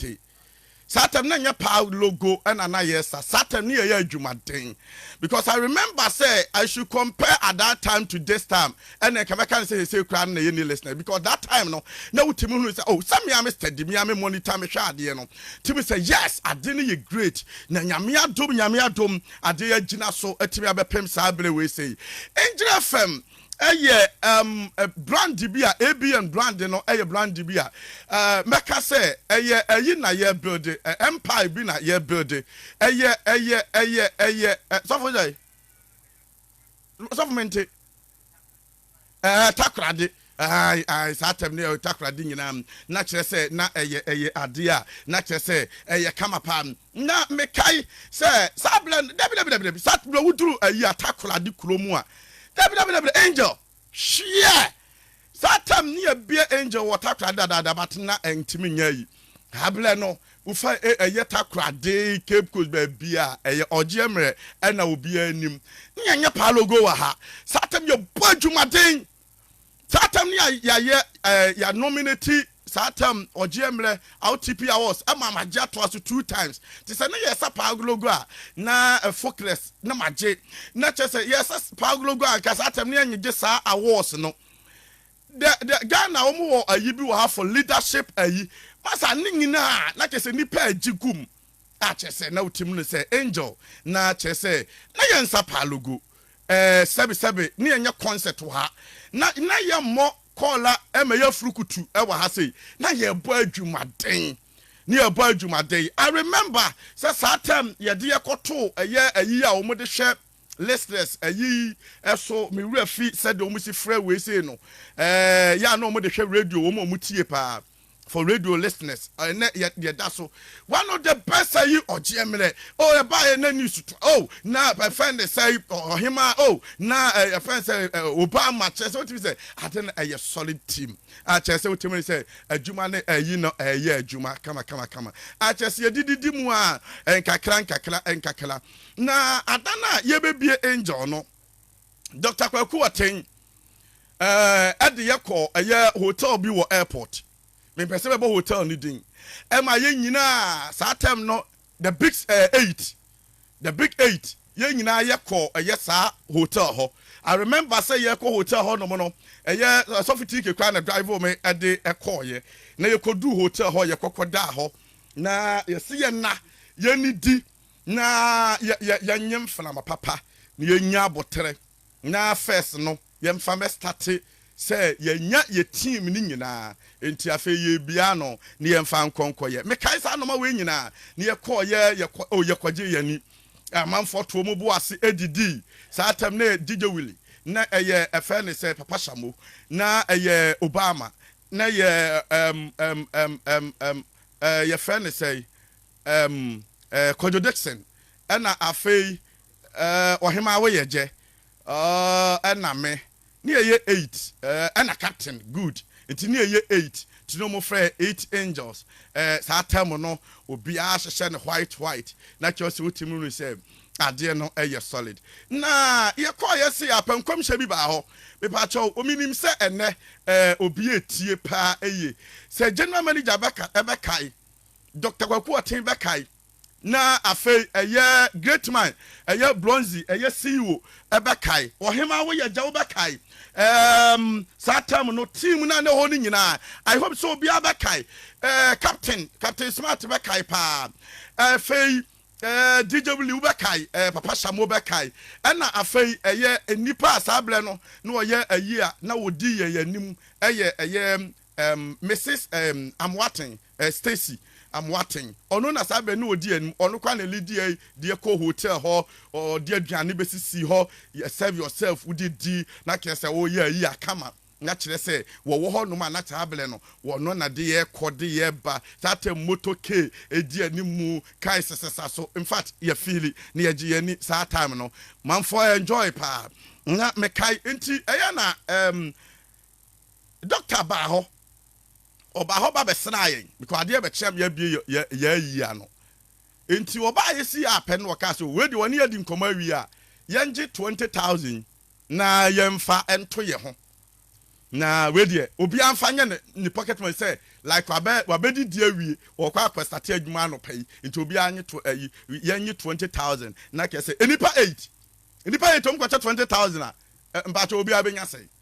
te. Saa time no na ɛnyɛ paa logo ɛna na yɛ sa. Saa time no yɛ yɛ adwumaden because I remember sɛ I should compare at that time to this time ɛna nka bɛka ne sɛ hesei koraa no na yɛ ni listener because that time no na wotumi hunu sɛ oh sɛ mea me study mea me monitor mehwɛ adeɛ no tumi sɛ yes adeɛ no yɛ great na nyame adom nyame adom adeɛ yɛ agyina so atumi abɛpem saa bere wei sei ngyina fam yɛ ɛɛm brand bi a ABN brand no yɛ brand bi a ɛɛ mɛka sɛ ɛyɛ ɛyi na yɛ build ɛ empire bi na yɛ build ɛyɛ ɛyɛ ɛyɛ ɛyɛ ɛ sɔfo yɛ sɔfo mente ɛɛ takorade ae ae saa tɛm no yɛ takorade nyinaa na kyerɛ sɛ na ɛyɛ ɛyɛ adeɛ a na kyerɛ sɛ ɛyɛ kama paa Na mekae sɛ, Saa berɛ no, dabidabidabi, saa berɛ woduru ayi Atakoradi kuro mu a, dabidabidabi, Angel, hyeɛ! Saa tam ne yɛbie Angel wɔ Takoradi dadaada but na ɛntumi nyɛ ayi. Saa berɛ no, wofa ɛyɛ Takoradi, Cape Coast, baabi a ɛyɛ ɔgyeɛ mmerɛ ɛna obiara nim. Ne yɛnyɛ paa logo wɔ ha. Saa tam yɛbɔ adwumaden. saa tam ni a yɛayɛ ɛɛ yɛ nominate saa tam ɔgyeɛ mmerɛ RTP awards ɛma ma gye atoa so two times te sɛ ne yɛsa paa agologo a na focus na ma gye na kyɛ sɛ yɛsa paa agologo a nka saa tam ne yɛnye gye saa awards no the the Ghana wɔn wɔ ayi bi wɔ ha for leadership ayi masa ne nyinaa na kyɛ sɛ nipa agye gum a kyerɛ sɛ na wotim no sɛ angel na kyerɛ sɛ na yɛn nsa paa logo eh, sɛbe sɛbe ne yɛnyɛ concert wɔ ha na na yɛmmɔ kɔɔla ɛma yɛ afurukutu ɛwɔ ha sei na yɛbɔ adwumaden ne yɛbɔ adwumaden I remember sɛ saa tɛm yɛde yɛkɔto ɛyɛ ayi a wɔn de hwɛ listeners ayi ɛso me wura fi sɛdeɛ wɔn si frɛ wei sei no ɛɛ eh, yɛ a na wɔn de hwɛ radio wɔn a wɔn tie paa for radio listeners ɛnɛ yɛ yɛ da so one of the best ayi ɔgyeɛ mmerɛ oh ɛba yɛ na news to oh na ɛfɛn de sɛ ɔhema oh na ɛfɛn sɛ obama kyerɛ sɛ wotumi sɛ ade no ɛyɛ solid team akyerɛ sɛ wotumi sɛ adwuma ne ayi no ɛyɛ adwuma kama kama kama akyerɛ sɛ yɛdididi mu a nkakra nkakra nkakra na ada no a yɛbɛbie angel no Doctor Kwaku Ateng ɛɛ de yɛ kɔ ɛyɛ hotel bi wɔ airport. Mempɛ sɛ bɛbɔ hotel no din. Ɛma yɛ nyinaa saa term no the big ɛɛ eight the big eight yɛ nyinaa yɛ kɔ ɛyɛ saa hotel hɔ. I remember sɛ yɛ kɔ hotel hɔ nom no ɛyɛ sɔfo tiike kwan na drive me ɛde ɛkɔɔ yɛ na yɛ kɔ duu hotel hɔ yɛ kɔkɔ daa hɔ na yɛ se yɛ na yɛ ni di. Na yɛ yɛ yɛnyɛ mframa papa na yɛnya aboterɛ na first no yɛmfa mɛ starte sɛ yɛnya yɛ team no nyinaa nti afei yɛbia ano na yɛmfa nkɔ nkɔyɛ mekae saa nnoɔma wei nyinaa na yɛkɔɔyɛ yɛkɔ oh yɛkɔgye yɛ ani amanfoɔ too mo bo ase ɛdidii saa tɛm na yɛ DJ Willy na ɛyɛ ɛfɛ ne sɛ Papa Shamo na ɛyɛ Obama na yɛ ɛm ɛm ɛm ɛm ɛm ɛɛ yɛfɛ ne sɛ Ɛm ɛɛ Kwadwo Dickson ɛna afei ɛɛ Ɔhemaa Woyɛgyɛ ɔɔh ɛna me ne yɛyɛ eight ɛɛ ɛna Captain Good nti ne yɛyɛ eight nti na wɔfrɛ yɛn eight angels ɛɛ saa term no obiara hyehyɛ no white white na kyerɛ sɛ wotumi hu sɛ adeɛ no yɛ solid na yɛkɔeɛ se apɛ nkɔmhyɛ bi baa hɔ mepakyɛw menim sɛ ɛnɛ ɛɛ obi atie paa ɛye sɛ General Manager bɛka ɛbɛkae Doctor Kwaku Ɔten bɛkae na afei ɛyɛ Great Man, ɛyɛ Bronzy, ɛyɛ CEO bɛkae. Ɔhemaa wo yɛ gya wo bɛkae ɛɛm saa term no team no a na ɛhɔ no nyinaa I hope sɛ obiara bɛkae ɛɛ Captain Captain Smart bɛkae paa ɛɛ afei ɛɛ DJ Willie wo bɛkae ɛɛ Papa Shamo bɛkae ɛna afei ɛyɛ nnipa a saa berɛ no na ɔyɛ ayi a na ɔdi yɛn anim ɛyɛ ɛyɛ ɛɛm Mrs ɛɛm Amoaten Eh Stacy Amoaten ɔno na saa bɛ no ɔdi anim ɔno koraa na lidi eh deɛ kɔ hotel hɔ ɔde aduane bɛsisi hɔ yɛ serve yourself wode di na kyerɛ sɛ ɔyɛ ayi a come on na kyerɛ sɛ wɔwɔ hɔ nom a na saa bɛ no ɔno na de yɛ kɔ de yɛ ba saa tɛm motor K ɛdi anim mu kae sesesa so in fact yɛ feeli na yɛgye yɛn ani saa time no manfoɔ enjoy paa na mekae nti ɛyɛ na ehm Doctor baa hɔ, ɔbaa hɔ ba bɛsraa yɛn because adeɛ bɛkyea me abue yɛ yɛ yɛ ayi ano. Nti ɔbaa yɛsii app no ɔkaa sɛ wei deɛ ɔne yɛadi nkɔmmɔ awie a yɛngye twenty thousand na yɛmfa nto yɛ ho na wei deɛ obiara mfa nyɛ ne ne pocket money sɛ like wabɛ wabɛdidi awie ɔkɔ akɔstate adwuma anɔpa yi nti obiara nye to ayi yɛnye twenty thousand na kɛsɛ nnipa eight nnipa eight ɔmkɔkyɛ twenty thousand a mpakyɛ obiara bɛnya sɛn.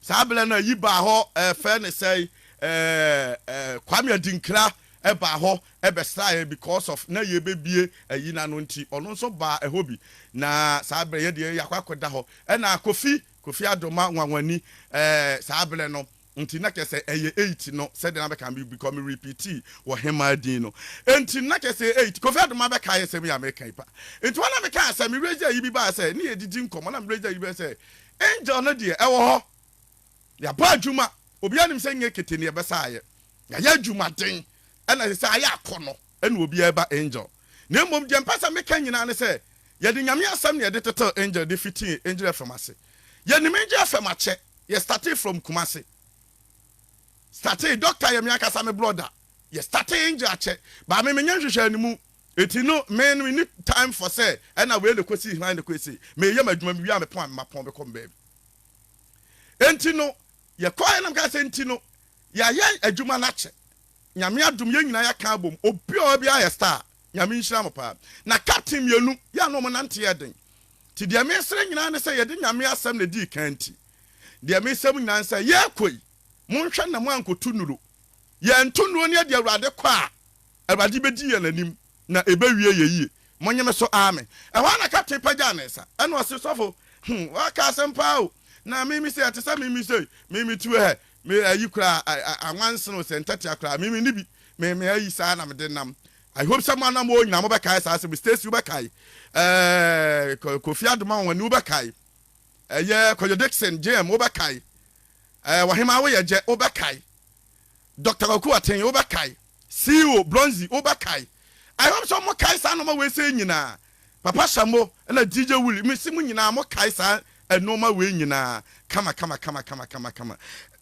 Saa berɛ no ayi baa hɔ ɛfɛ ne sɛn eh, Kwame Adinkra ɛbaa hɔ ɛbɛsraa yɛn because of na yɛbɛbie ayi no ano nti ɔno nso baa ɛhɔ bi na saa berɛ yɛ deɛ yɛakɔ akɔda hɔ ɛna Kofi Kofi Adoma Nwanwani eh, saa berɛ no nti na kyɛ sɛ ɛyɛ eight no sɛdeɛ na bɛka me because me repeatii wɔ hemaa din no nti na kyɛ sɛ eight Kofi Adoma bɛkaeɛ sɛm yi a meka yi pa nti hɔ na mekaa sɛ me raise ayi bi baa sɛ ne yɛdidi nkɔmmɔ na me raise ayi bɛɛ sɛ Angel no deɛ ɛwɔ hɔ. Yɛabɔ adwuma. Obiara nim sɛ nyɛ kete na yɛbɛsa ayɛ. Yɛayɛ adwumaden ɛna ɛsɛ sɛ ayɛ akɔnɔ ɛna obiara ba Angel. Na mmom deɛ mpɛ sɛ meka nyinaa ne sɛ yɛde Nyame asɛm na yɛde tetɛw Angel de fitii Angel FM ase. Yɛnim Angel FM akyɛ. Yɛ startee from Kumasi. Startee, Doctor yɛ me ankasa me brɔda. Yɛ startee Angel akyɛ. But me menyɛ nhwehwɛanimu. Enti no me no menni time for sɛ ɛna wei na ɛkɔ sii hann na ɛkɔyɛ sei. Meyɛ m'adwuma mewie a mepɔn a mapɔn bɛkɔ me baabi. Enti no yɛkɔeɛ na mekae sɛ enti no yɛayɛ adwuma no akyɛ. Nyame adom yɛn nyinaa yɛaka abom obi a ɔwɔ biara yɛ star. Nyame nhyira mo paa. Na captain mmienu yɛ a na wɔn nante yɛ den. Nti deɛ mesrɛ nyinaa ne sɛ yɛde Nyame asɛm na ɛdii kan nti deɛ mesrɛ mo nyinaa ne sɛ yɛrekɔ yi monhwɛ na moankɔtu nnuro. Yɛnto nnuro no yɛde Awurade kɔ a Awurade bedi yɛn anim, na ebewie yɛn yiye. Monnye me so, aame. Ɛhɔ ara na kapten pagyaw ne nsa, ɛnna ɔse, Sɔfo, hmm, woaka asɛm paa o! Na mimi sɛ ɛte sɛ mimi sei, mimi tuo hɛ, me ayi koraa, a, a, anwansen o, sɛ ntɛtea koraa, mimi nni bi, me, me ayi saa na mede nam. I hope sɛ mo anamoo nyinaa mobɛkae saa asɛm yi. Stacy, wobɛkae. Ɛɛ, Ko, Kofi Adomawane, wobɛkae. Ɛyɛ Kwadwo Dickson, JM, wobɛkae. Ɛɛ, Ɔhemaa Woyɛgyɛ, wobɛkae. Doctor Kwaku Aten, wobɛkae? CEO Bronzy, wobɛkae? I hope sɛ wɔkae saa nnoɔma wei sei nyinaa. Papa Shamo ɛna DJ Willy, mese mo nyinaa mokae saa nnoɔma wei nyinaa kamakamakamakama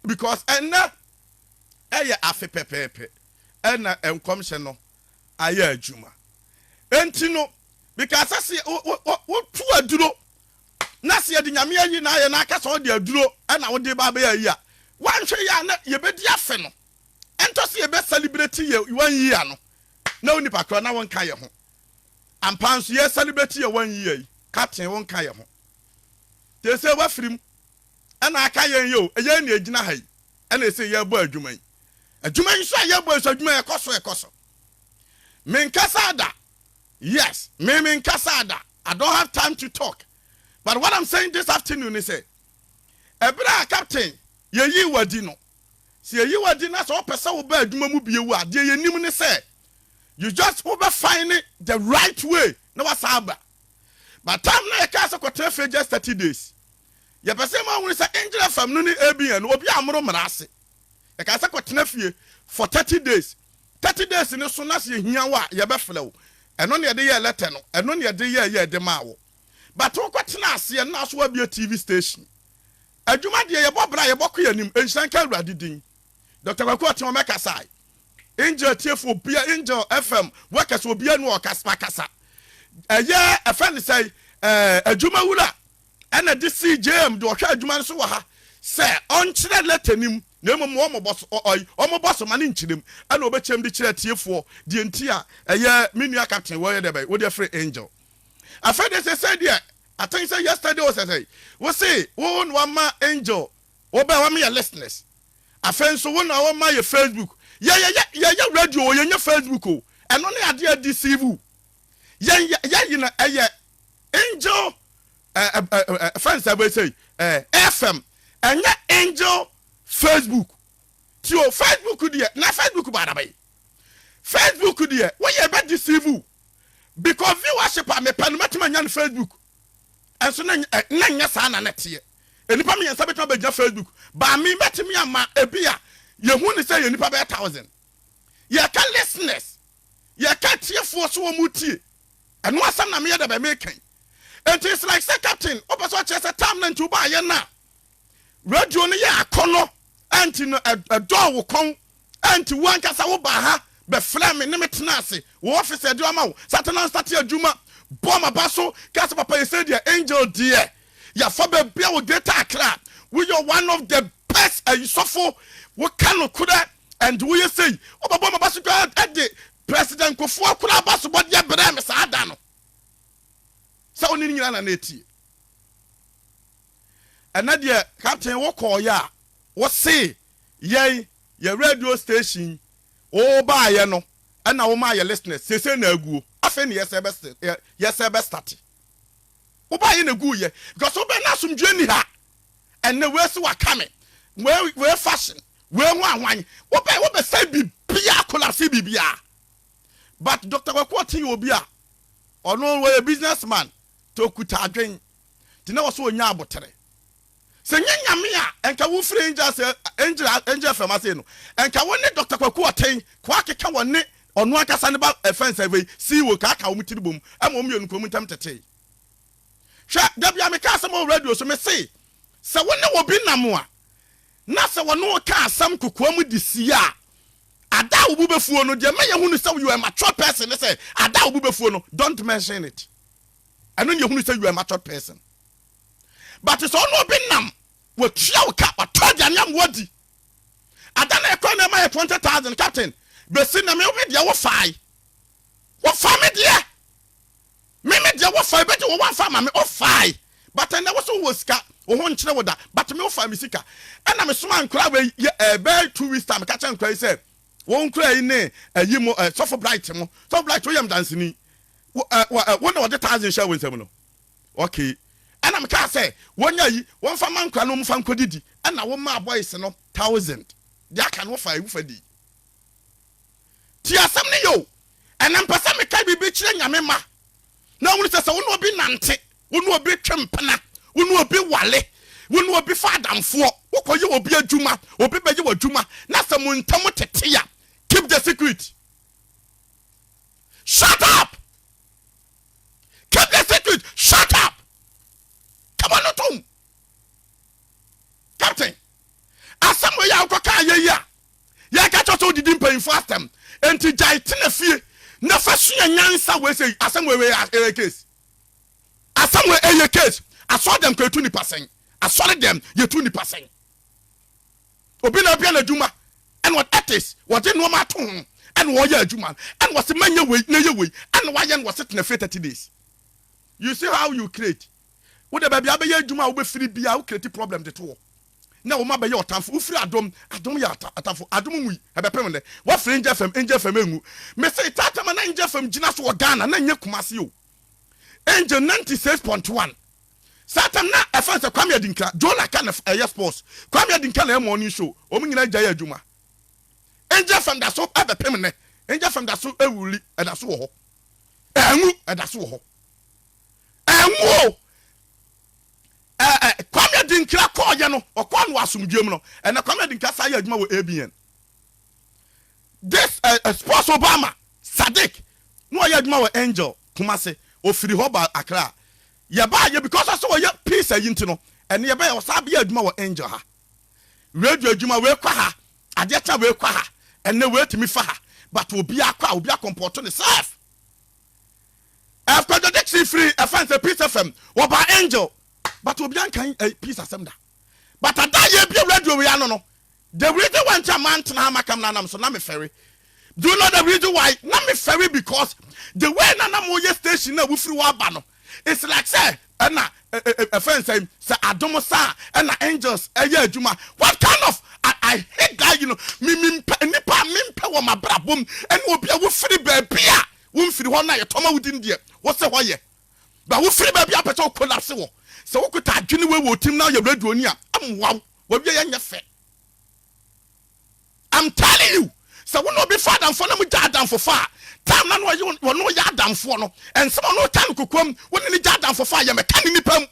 because ɛnnɛ ɛyɛ afe pɛpɛɛpɛ ɛna nkɔmhyɛ no ayɛ adwuma. Enti no, mekaasɛ se wo, wo, wo, wotu aduro na sɛ yɛde Nyame ayi na ayɛ na aka sɛ ɔde aduro na wode ba abɛyɛ ayi a, woanhwɛ yie a na yɛbɛdi afe no, ɛntɔ sɛ yɛbɛ celebrate yɛ one year no na wo nipa korɔ na wonka yɛ ho. Ampa nso yɛ celebrate yɛ one year yi, Captain wonka yɛ ho. Te sɛ wafiri mu ɛna aka yɛn yi o, ɛyɛ na ɛgyina ha yi ɛna ɛsɛ yɛbɔ adwuma yi. Adwuma yi nso a yɛbɔ yi nso adwuma yi ɛkɔ so ɛkɔ so. Menkasa da, Yes me me nkasaa da I don't have time to talk but what am saying this afternoon ne sɛ ɛberɛ a captain yɛ yii wo adi no sɛ yɛ yi wo adi na sɛ wo pɛ sɛ wo ba adwuma mu bio a deɛ yɛ nim ne sɛ you just wo bɛ fine the right way na wa san aba but time na yɛ kaa sɛ kɔ tena fie just 30 days yɛ pɛ sɛ ma ahunu sɛ Angel FM no ne ABN no obi a moro mmara ase yɛ kaa sɛ kɔ tena fie for 30 days Thirty days no so na sɛ yɛhia wo a yɛbɛfrɛ wo, ɛno na yɛde yɛɛ lɛtɛ no, ɛno na yɛde yɛɛ yɛɛ de maa wo. But wo kɔ tenaa ase yɛn nan so wabue TV station. Adwuma deɛ yɛbɔ bra yɛbɔ kɔ yɛn anim, nhyira nka Awurade din. Doctor Kwaku Ɔteɔn mɛkasae. Angel tiefo obia angel FM workers obia ni ɔkasa makasa ɛyɛ ɛfɛ ne sɛn ɛɛ adwuma wura ɛna de sii JM de ɔhwɛ adwuma no so wɔ ha sɛ ɔnkyerɛ lɛtɛ no mu na mmom ma wɔmmɔ so ɔ ɔy wɔmmɔ so ma no nkyerɛ mu ɛna ɔbɛkyerɛ mu de kyerɛ atiefoɔ deɛ nti a ɛyɛ me nua captain wɔyɛ dɛ bɛn wodeɛ free angel afei deɛ sɛsɛ deɛ I think sɛ yesterday o sɛsɛ wo se wo na wama angel wɔbɛn wɔn yɛ listeners afei nso wo na wɔma yɛ facebook yɛyɛ yɛyɛ radio o yɛnyɛ facebook o ɛno ne adeɛ deceive yɛn yɛ yɛ yi na ɛyɛ angel ɛɛ ɛɛ ɛfɛn sɛ ɛbɛyɛ sɛ ɛɛ fm ɛnyɛ angel facebook ti o facebook deɛ na facebook ba adaba yi facebook deɛ wɔyɛ ɛbɛ deceive o because viewership a mepɛ no mɛtuma nya no facebook ɛnso na na nyɛ saa na na teɛ nnipa mmiɛnsa bɛtuma bɛgyina facebook baa mi mɛtumi ama ebi a yɛhu ne sɛ yɛ nnipa bɛyɛ thousand yɛka listeners. yɛka atiefoɔ so wɔn tie ɛno asɛm na meyɛ dɛbɛn meka yi nti it's like sɛ captain wopɛ sɛ ɔkyerɛ sɛ time no nti wobaayɛ no a radio no yɛ akɔnɔ ɛnti no ɛdɔɔ wo kɔn ɛnti wo ankasa wobaa ha bɛfrɛ me ne me tena ase wo office ɛde ɔma wo satana nsate adwuma bɔ maba so ka sɛ papa yɛsɛ deɛ angel deɛ yɛafa baabi a wo greater akra woyɛ one of the best ayisɔfo woka nokorɛ And woyɛ sei wobɛbɔ maba so koraa ɛde President Kufuor koraa basobɔdeɛ brɛɛ me saa da no sɛ wone ne nyinaa na na ɛtie. Ɛnɛ deɛ Captain wokɔɔyɛ a wose yɛn yɛ radio station wobaayɛ no ɛna womaa yɛ listeners seesei na aguo afei ne yɛsɛ bɛ yɛsɛ bɛ starte wobaayɛ na ɛguuyɛ because wobɛ na asomdwoeɛ ni ha ɛnɛ wei so waka me wei wei fashion wei ho ahwan wobɛ wobɛsɛ biribiara kolase biribiara but Dr. Kwaku Ɔte yɛ obi a ɔno wɔyɛ business man te okuta adwen te na wɔso ɔnya abotere sɛ nyɛ nyame a ɛnka wo firi angel sɛ angel angel fam ase no ɛnka wo ne Dr. Kwaku Ɔte kɔ akeka wɔ ne ɔno ankasa ne ba ɛfɛn sɛ wei sii wɔ kaaka wɔn tiri bom ɛma wɔn mmienu kɔn mu ntɛm tetee Hwɛ, da bi a meka asɛm wɔ radio so, mesee, Sɛ wo ne obi nam a, na sɛ ɔne wo ka asɛm kokoam de sie a, ada a wo bo bɛfuo no, deɛ ɛma yɛhu no sɛ you are a matured person ne sɛ, ada a wo bo bɛfuo no, don't mention it. Ɛno ne yɛhu no sɛ you are a matured person. But sɛ wo ne obi nam, watua wo ka, watɔ aduane ama wadi, ada na ɛkɔ na ɛma yɛ 20,000, captain, bɛsi na me wo me deɛ wo fae. Wo fa me deɛ! Me me deɛ wofa ebegye wo wamfa ama me ofae but ɛnɛ wose wowɔ sika wo ho nkyerɛ wo da but me wofa me sika ɛna me somaa nkoraa wei yɛ ɛɛ bɛɛ two weeks time ka kyerɛ nkoraa yi sɛ wo nkoraa yi ne ɛyi mo ɛɛ sɔfo bright mo sɔfo bright woyɛ me dansini wo ɛɛ wo ɛɛ wo na wɔde thousand hyɛ wo nsam no okay ɛna me kaa sɛ wɔnya yi wɔmfa ma nkoraa no wɔmfa nkɔdidi ɛna wo maa boys no thousand deɛ aka no wofa ewu fa di. Tie asɛm no yie o, ɛnnɛ mepɛ sɛ meka biribi kyerɛ Nyame mma na ɔhunu sɛ, sɛ wo ne obi nante, wo ne obi twe mpena, wo ne obi ware, wo ne obi fa adamfoɔ, wokɔyɛ obi adwuma, obi bɛyɛ w'adwuma, na sɛ mo ntam tete a, keep the secret. Shut up! Keep the secret! Shut up! Kama no tom! Captain, asɛm wei a wokɔka ayɛ yi a, Yɛka kyerɛ sɛ wodidi mpanyimfo asɛm. Enti gyae tena fie na fa sua nyansa wei sɛ asɛm wei wei ɛyɛ case. Asɛm wei ɛyɛ case. Asɔre dɛm kɔ yɛtu nipa sɛn? Asɔre dɛm yɛtu nipa sɛn? Obi na abia n'adwuma ɛna wɔde ethics wɔde nneɛma ato ho ɛna wɔyɛ adwuma no ɛna wɔsi mɛnyɛ wei na yɛ wei ɛna wɔayɛ no wɔsi tena fie thirty days. You see how you create? Wo de baabi abɛyɛ adwuma a wobɛfiri bia wo create problem de to hɔ. na wo mma bɛyɛ ɔtamfo wofiri adom adom yɛ atamfo adom mu yi ɛbɛpem nnɛ wafiri angel fam angel fam engu mese taata ma na angel fam gyina so wɔ Ghana na nyɛ Kumasi o angel 96.1 saa tam na ɛfɛn sɛ Kwame Adinkra Jonah ka na ɛyɛ sports Kwame Adinkra na ɛyɛ morning show wɔn nyinaa gya yɛ adwuma angel fam da so ɛbɛpem nnɛ angel fam da so ewuli ɛda so wɔ hɔ ɛngu ɛda so wɔ hɔ ɛngu o. Ɛ ɛ Kwame Adinkra kɔɔeɛ no, ɔkɔɔ no wɔ asomdwoeɛ mu no. Ɛnnɛ Kwame Adinkra san yɛ adwuma wɔ ABN. This ɛ ɛ Sports Obama Sadiq, na ɔyɛ adwuma wɔ Angel Kumasi. Ɔfiri hɔ baa Accra. Yɛbaeɛ because ɔsɛ ɔyɛ peace ayi nti no, ɛnnɛ yɛbɛyɛ ɔsan bɛyɛ adwuma wɔ Angel ha. Radio adwuma, wei kɔ ha, adeɛ kye a wei kɔ ha, ɛnnɛ wei tumi fa ha. But obiara kɔ a, obiara kɔmpɔɔto ne self. After the date she free a fan say peace FM wɔ ba angel but obi ankan eh, peace asɛm da but ada yɛ bi radio wei ano no the reason why nti a man tena ha makam na nam so na me fɛre do you know the reason why na me fɛre because the way na na mo yɛ station na wofiri wɔ aba no it's like sɛ ɛna ɛfɛn sɛ sɛ adom saa ɛna angels ɛyɛ adwuma what kind of I, I hate that you know me me nipa me mpɛ wɔ ma brabom ɛna obi a wofiri baabi a Wo mfiri hɔ na yɛ tɔ ma wo din deɛ wo se hɔ yɛ ba wo firi baabi a pɛ sɛ wo collapse wɔ sɛ wo kuta adwene wei wɔ otim na wo yɛ radio ni a ɛmmoa wo wa wie yɛ nyɛ fɛ I'm telling you sɛ wo na obi fa adamfoɔ na mo gya adamfo fa a time na na wɔne wo yɛ adamfoɔ no ɛnsɛm ɔno ɔta no kokoam wo ne ne gya adamfo fa a yɛ mɛka ne nipa mu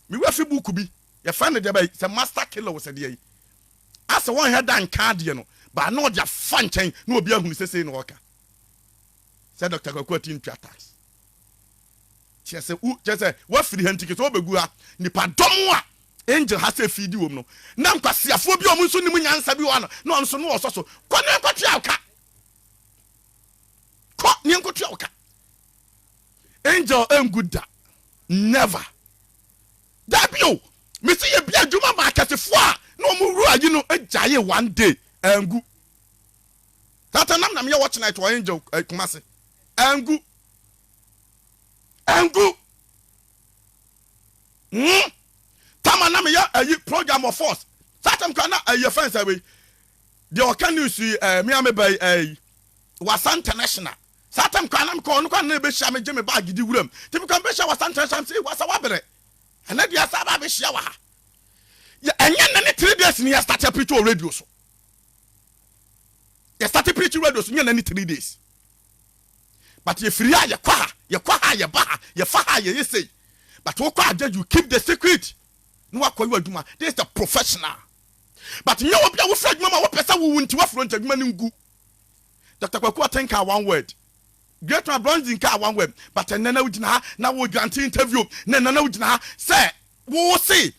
me wura fi book bi yɛ fɛn ne deɛ bɛyi sɛ master killer wɔ sɛ deɛ yi Asɛ wɔnhwɛ da nka adeɛ no baa na ɔde afa nkyɛn na obi ahunu sɛ sei na ɔreka sɛ Doctor Kwaku Ati ntua tax. Kyerɛ sɛ wo kyerɛ sɛ wafiri ha nti kesɛ ɔbɛgu ha nipa dɔm a angel ha sɛ fiidi wɔm no na nkwaseafoɔ bi a wɔn nso nim nyansa bi wɔ ha no na wɔn nso no wɔsɔ so kɔ na nkɔtua wo ka kɔ na nkɔtua wo ka angel ɛngu da never Dabi o, mese yɛbi adwuma ma akɛsefoɔ a na wɔn wura yi no gyaee one day, angu. Tata nam na meyɛ watch night wɔ Angel eh, Kumasi, angu. Angu. Hmm. Tama na meyɛ ayi program wɔ force, saa tam kora na ayi fɛn sɛ wei, deɛ ɔka news yi eh, me a meba yi eh, Wasa International. Saa tam kwan na mekɔ hɔ no kwan na ɛbɛhyia me gye me baage di wuram nti mekɔ mebɛhyia wɔ San Trans Amsey wɔ Asawaberɛ ɛnɛ deɛ asan aba abɛhyia wɔ ha yɛ ɛnyɛ nnɛ ne three days ne yɛ start apirikyi wɔ radio so yɛ start apirikyi radio so nyɛ nnɛ ne three days but yɛfiri ha yɛkɔ ha yɛkɔ ha yɛba ha yɛfa ha yɛyɛ sei but wokɔ agya you keep the secret na wakɔ yɛ adwuma this is the professional but nyɛ obi a wofiri adwuma ma wopɛ sɛ wowu nti wafuro nti adwuma no ngu Doctor Kwaku Aten kaa one word. Great man Brunson kaa one word but ɛnnɛ na wogyina ha na woredwante interview na ɛnnɛ na wogyina ha sɛ wose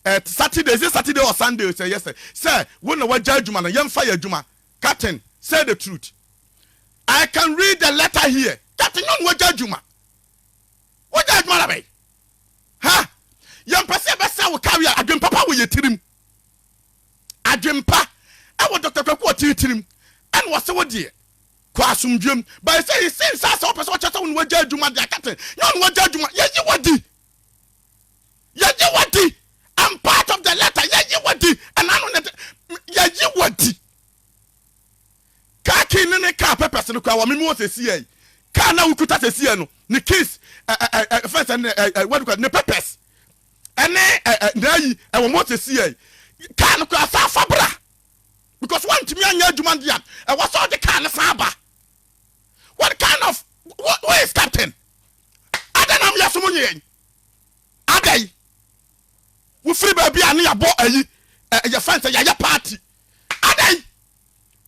eh, Saturday, is it Saturday or Sunday sɛ yɛsɛ sɛ wo na wagya adwuma no yɛmfa yɛ adwuma. Captain, say the truth. I can read the letter here. Captain, nyɛ ɔno wagya adwuma. Wagya adwuma na bɛn? Ha! Yɛmpɛ sɛ yɛbɛsɛ wo career, adwen papa wɔ yɛ tirim. adwenpa wɔ Doctor Kwaku Ɔtee tirim ɛna wɔse wo deɛ kɔ asomdwoem but ɛsɛ yi sin saa sɛ wopɛ sɛ wɔkyerɛ sɛ wo na wagya adwuma deɛ akate nyɛ ɔna wagya adwuma yɛyi wadi yɛyi wadi I'm part of the letter yɛyi wadi ɛna ano ne yɛyi wadi kaa kii ne ne kaa pɛpɛs no kora wɔ meme wɔ sɛsi yɛ kaa na wokuta sɛsi yɛ no ne keys fɛnsɛ ne ne pɛpɛs ɛne ɛ ɛ na ayi ɛwɔ mu sɛsi yɛ kaa no koraa saa fa bra because wantumi anyɛ adwuma deɛ a ɛwɔ sɛ ɔde kaa no san ba what kind of who is captain adɛn na moyɛ so mo nyɛ yɛn adɛn wofiri baabi a ne yɛabɔ ayi yɛfɛn sɛ yɛayɛ party adɛn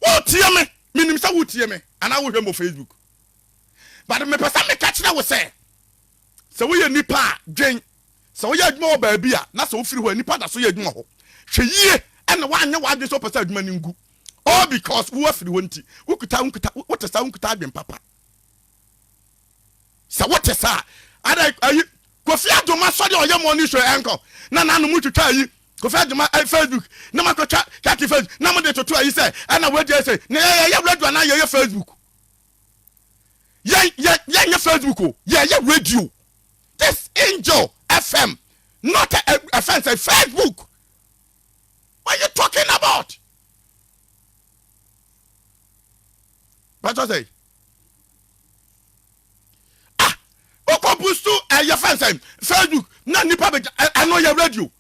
wotie me menim sɛ wotie me anaa wohwɛ mɔ facebook but mepɛ sɛ meka kyerɛ wo sɛ Sɛ woyɛ nipa a, dwen sɛ woyɛ adwuma wɔ baabi a na sɛ wofiri hɔ a, nnipa da so yɛ adwuma hɔ. Hwɛ yie na woanyɛ w'adwene sɛ wopɛ sɛ adwuma no ngu. All because wo afiri hɔ nti, wokuta, wonkuta, wote saa, wonkuta adwene papa. Sɛ wote saa, ada ayi, Kofi Adoma sɔre a ɔyɛ morning show ɛnkɔ, na n'ano mu twitwa ayi, Kofi Adoma eh, Facebook, na mo akɔtwa kati Facebook, na mo de toto ayi sɛ, ɛna wadi ɛsɛ, na yɛyɛ radio anaa yɛyɛ Facebook. yɛn yɛn yɛn nyɛ facebook o yɛn yɛ radio this angel fm not a a fɛn sɛ facebook what you talking about bàtà sɛ ah okò busu ɛyɛ fɛn sɛ facebook na nipa bɛ ɛno yɛ radio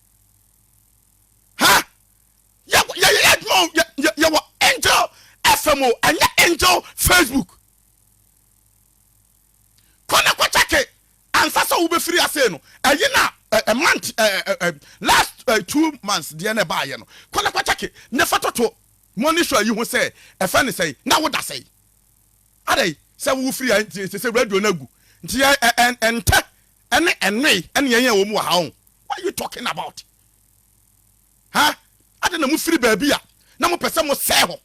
ha. Huh? yɛ yɛyɛ yɛ adwuma o yɛ yɛwɔ angel fm o ɛnyɛ angel facebook kɔ na kɔ kyɛke ansa sɛ wobɛfiri ase no ɛyi na ɛ month ɛ last ɛ two months deɛ na ɛbaayɛ no kɔ na kɔ kyɛke ne fa toto mɔni show yi ho sɛ ɛfɛ ne sɛi na woda sɛi adɛn sɛ wofiri a nti sɛ radio no agu nti ɛ ɛ ɛntɛ ɛne ɛnoe ɛne yɛn yɛ wɔ mu wɔ ha o what you talking about Ha! Adɛn na mofiri baabi a na mopɛ sɛ mosɛe hɔ?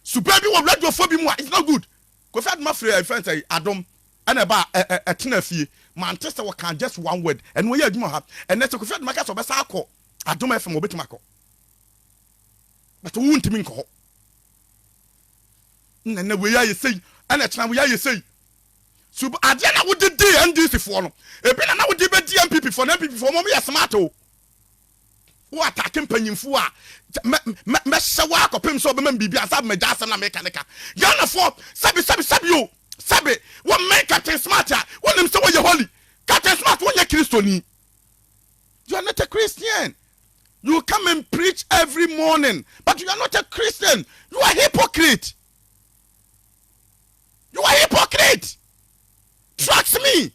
Suban bi wɔ radiofoɔ bi mu a it's not good. Kofi Adom afiri ɛɛ fɛn sɛ Adom ɛna ɛba a ɛ ɛ ɛtena fie. Mante sɛ wɔka just one word. Ɛno ɛyɛ adwuma wɔ ha. Ɛnɛ sɛ Kofi Adom aka sɛ ɔbɛsan akɔ Adom FM a ɔbɛtumi akɔ. But wo ntumi nkɔ hɔ. Ɛna ɛnɛ wei ayɛ sei. Ɛna kyena wei ayɛ sei. Sub adeɛ na wode dii NDC foɔ no. Ebi na na wode bɛdi NPP foɔ no. NPP foɔ wɔn yɛ smart o. Wo atake mpanyimfo a, mɛ mɛ mɛhyɛ wo ara kɔpem sɛ wɔbɛma me biribi ansa na magyae asɛm no a mereka no ka. Ghanafoɔ, sɛbe sɛbe sɛbe o, sɛbe, wɔmmɛn Captain Smart a, wonim sɛ woyɛ holy. Captain Smart, wonyɛ Kristoni. You are not a Christian. You come and preach every morning, but you are not a Christian. You are hypocrite. You are hypocrite. Trust me.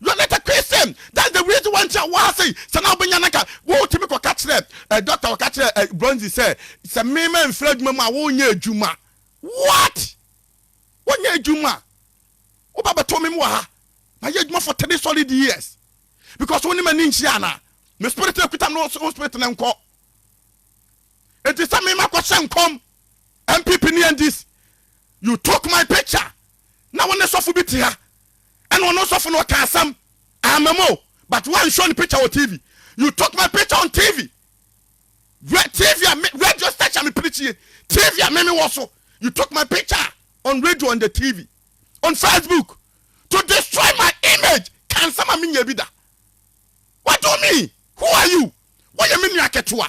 Yonetta pee sɛ that's the reason why nti a ɔwɔ ha sei, sɛ na wobɛnya no anka wotumi kɔka kyerɛ eh, doctor a ɔka kyerɛ eh, Bronzy sɛ sɛ me mamfiri adwuma mu a wonyɛ adwuma. What? Wonyɛ adwuma? Woba bɛto me mu wɔ ha, mayɛ adwuma for three solid years because wo ne m'ani nhyia anaa? Me spirit na ɛkuta me wo spirit na nkɔ. Enti sɛ me makɔhyɛ nkɔm MPP ne NDC, you took my picture na wo ne sɔfo bi te ha ɛna ɔno sɔfo no ɔka asɛm ama mu o but woan show ne picture wɔ TV you took my picture on TV Re TV a me radio station a mepene tie TV a me me wɔ so you took my picture on radio on the TV on Facebook to destroy my image ka nsɛm a menyɛ bi da what do you mean who are you woyɛ me nua ketewa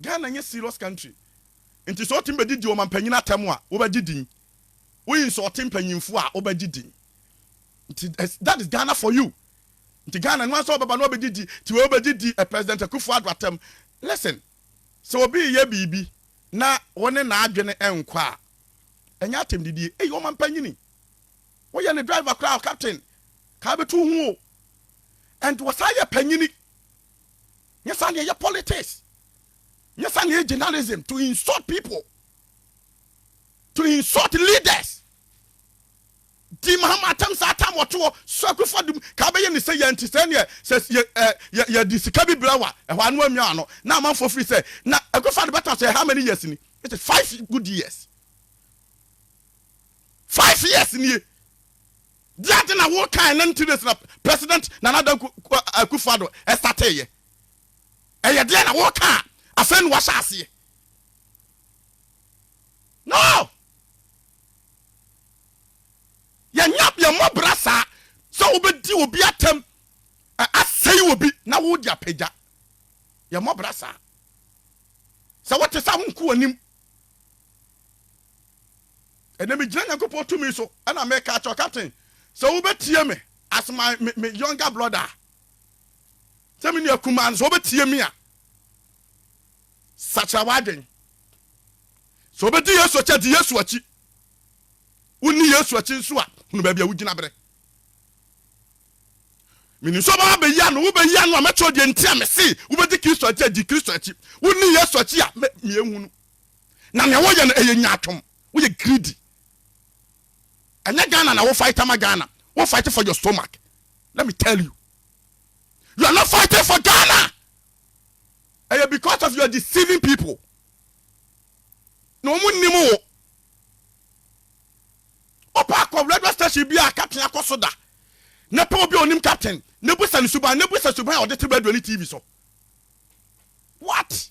Ghana nyɛ serious country nti sɛ wotumi bɛdidi ɔmanpanyin atɛm a wobɛgye din, woyi nsɔɔte mpanyinfoɔ a wobɛgye din nti that is Ghana for you nti Ghana no ansa wobɛba na wabɛdidi nti wei wobɛgye di President Akuffo Addo atɛm listen sɛ obi reyɛ biribi na wo ne n'adwene nkɔ a ɛnyɛ atɛmdidie ei ɔmanpanyini woyɛ ne driver koraa ɔ captain kaa bɛtu ho o and wɔsaa yɛ panyini Nyɛ saa na yɛyɛ politics. Nyɛ saa na yɛyɛ journalism to insult people, to insult leaders. Di Mahama atam saa tam wɔto hɔ so akufa dum ka bɛyɛ ne sɛ yɛnti sɛ neɛ sɛ yɛ ɛ yɛ yɛde sika bi brɛ wa ɛhɔ ano amia ano na amanfoɔ firi sɛ na akufa de bɛtena sɛ how many years ni it is five good years five years nie Deɛ ade na wo kae na nti days na president Nana Addo Akufo Addo startee yɛ. Ɛyɛ deɛ na wo ka a afei na wahyɛ aseɛ. No! Yɛ nya yɛ mmɔ bra saa sɛ wo bɛ di obi atɛm ɛ asɛe obi na wo de apagya. Yɛ mmɔ bra saa. Sɛ wo te saa wo nku wɔ nim. Ɛnɛ megyina Nyankopɔn tumi so na meka akyerɛ wo captain sɛ wobɛtie me as my me, me younger brother a sɛ me nua kumaa no sɛ wobɛtie me a sakyera w'adwen sɛ wobɛdi Yesu akyi di Yesu akyi wonni Yesu akyi nso a hunu baabi a wogyina berɛ menim sɛ wobɛba bɛyi ano wobɛyi ano a mɛkyerɛ deɛ nti a mese wobɛdi Kristo akyi di Kristo akyi wonni Yesu akyi a meɛhunu na nea wɔyɛ no ɛyɛ nyatom woyɛ greedy ɛnyɛ Ghana na wo fight ama Ghana wo fight for your stomach let me tell you you are not fighting for Ghana ɛyɛ because of you are deceiving people na wɔn nnim wo ɔpa akɔ radio station bi a captain akɔ so da na pɛ obi a onim captain na busa ne suban na busa suban a ɔde te radio ne tv so what.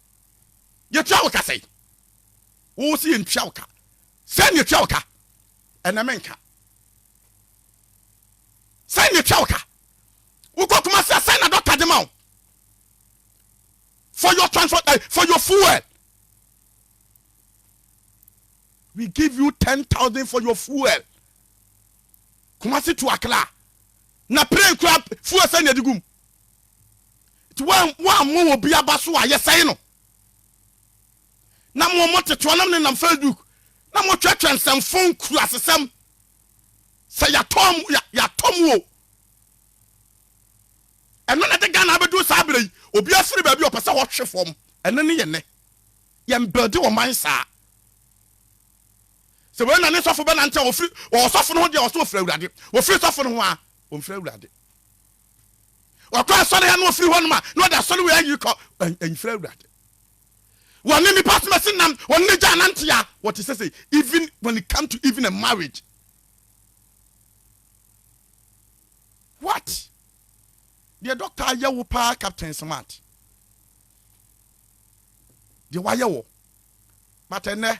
Yɛtua wo ka sɛn? Wo se yɛntua wo ka. Sɛn na yɛtua wo ka? Ɛnɛ menka. Sɛn na yɛtua wo ka? Wokɔ Kumasi a, sɛn na dɔkta de ma wo? For your transport, uh, for your fuel. We give you 10,000 for your fuel. Kumasi to Accra. Na plane kura fuel sɛn na yɛde gum? nti woammɔ obi aba so a yɛsɛe no na mo mo tetewa nam ne nam facebook na mo twɛtwɛ nsɛmfo nkuru asesɛm sɛ yɛatɔ mo yɛatɔ mo o ɛno na ɛde Ghana abɛdu saa berɛ yi obi afiri baabi ɔpɛ sɛ ɔhwe fam ɛno ne yɛ nnɛ yɛn bɛde ɔman saa sɛ wei na ne sɔfo bɛnante a wɔfiri wɔsɔfo no ho deɛ wɔsɛ wɔfiri awurade wɔfiri sɔfo no ho a wɔmfiri awurade Ɔkɔ asɔre a na ɔfiri hɔnom a na ɔde asɔre wei ayi kɔ mfiri Awurade. Wɔne nipa asomasi nam wɔn ne gya anante a wɔte sɛ sɛ even when it come to even a marriage. What? Deɛ doctor ayɛ wo paa Captain Smart. Deɛ wayɛ wɔ. But ɛnɛ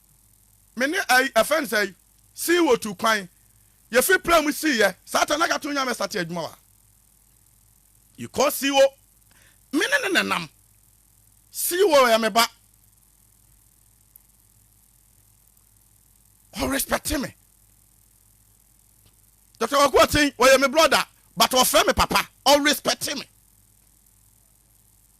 me ne ɛyi, ɛfɛ no sɛ yi, sii wɔ tu kwan, yɛ fi pira mu sii yɛ, saa ta na ka to nyame sate adwuma wa. Yi kɔ sii wɔ, me ne ne nenam, sii wɔ yɛ me ba. Ɔ respect me. Dr. Kwaku Ɔten, ɔyɛ me brother, but ɔfrɛ me papa, ɔ respect me.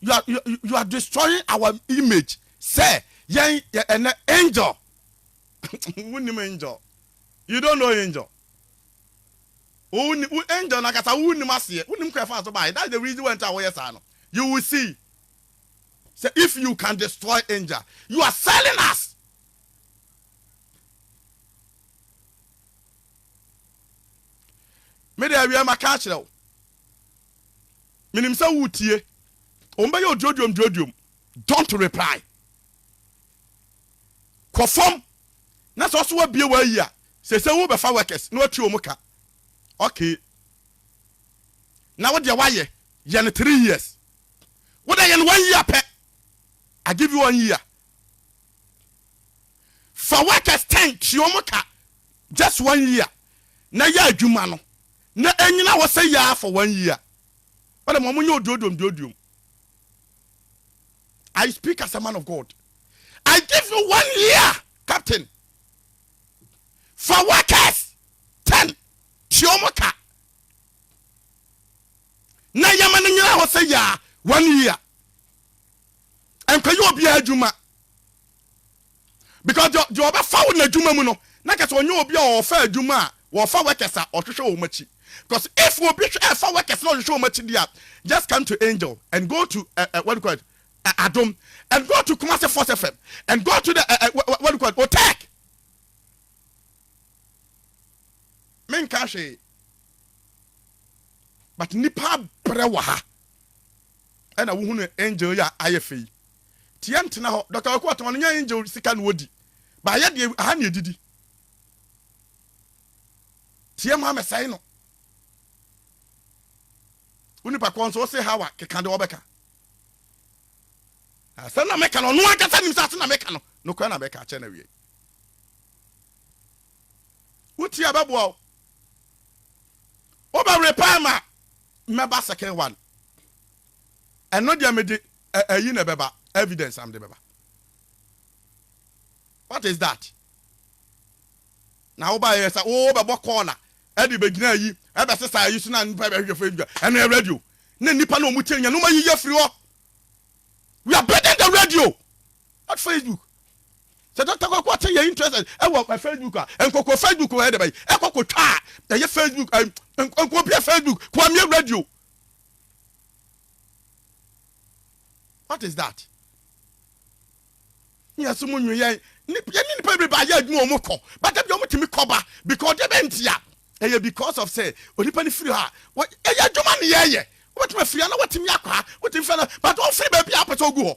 you are you, you are destroying our image sɛ yɛn ɛnɛ angel wonim angel you don't know angel wo angel na kasa wonim aseɛ wonim kɔ ɛfa so baayɛ that's the reason why nti a wɔyɛ saa no you will see sɛ if you can destroy angel you are selling us me de awia maka akyerɛ wo menim sɛ woretie wɔn bɛyɛ oduoduom duoduom don't reply kɔ fam na sɛ ɔso wabie w'ayi a sɛ sɛ wobɛfa workers na watua wɔn ka okay na wo deɛ wayɛ yɛ no three years wo deɛ yɛ no one year pɛ I give you one year fa workers ten tua wɔn ka just one year na yɛ adwuma no Na ennyina hɔ sɛ ya for one year ɔdɛ ma ɔmo nyɛ oduodom duoduom I speak as a man of God I give you one year captain fa workers ten tua ɔmo ka na yɛma no nyina hɔ sɛ ya one year ɛnkɔyɛ obiara adwuma. because deɛ deɛ ɔbɛfa wo n'adwuma mu no na kyɛ sɛ ɔnyɛ obi a ɔfa adwuma a wɔfa workers a ɔhwehwɛ wɔn akyi because if obi hwɛ ɛfa workers na ɔhwehwɛ wɔn akyi deɛ a just come to angel and go to uh, uh, what do you call it uh, adom and go to kumase force fm and go to the uh, uh, what do you call it otek menka hwee but nipa brɛ wɔ ha ɛna wohunu angel yɛ a ayɛ fɛ yi Tiɛ ntena hɔ. Doctor Kwaku Atɔn no nyɛ angel sika na ɔdi. But yɛ deɛ aha na yɛdidi. Tiɛ ma mɛsɛe no. Wo nipa korɔ nso ɔse how a keka deɛ ɔbɛka. Asɛm na meka no ɔno ankasa nim sɛ asɛm na meka no nokorɛ na mɛka akyɛ no awiei. Wo tie a ɛbɛboa wo. Wobɛwere paa ma mɛba second one. Ɛno deɛ mede Ɛ ɛyi na ɛbɛba, evidence a mede bɛba. What is that? Na wobaeɛ yɛ sɛ wobɛbɔ kɔɔla ɛde bɛgyina ayi ɛbɛsesa ayi so na nnipa bɛhwehwɛ fo adwa. Ɛno yɛ radio. Na nnipa no wɔn tie no yɛn no wɔn ayiyi afiri hɔ. We are building the radio, not Facebook. Sɛ Dr. Kwaku ate yɛ interested ɛwɔ ɛ Facebook a, nkɔkɔ Facebook wɔ ɛde bɛyi ɛkɔ kɔtwa a ɛyɛ Facebook ɛ nkɔbia Facebook kwamie radio. what is that yɛ so mu nwi yɛn yɛn nipa bebree ba yɛ adwuma wɔn kɔ bata bi wɔn tumi kɔ ba because deɛ bɛ ntia ɛyɛ because of sɛ onipa no firi hɔ a wɔ ɛyɛ adwuma ne yɛyɛ wɔbɛtumi afiri ha na wɔtumi akɔ ha wɔtumi fɛ na bata wɔn firi baabi a wɔpɛ sɛ wɔgu hɔ.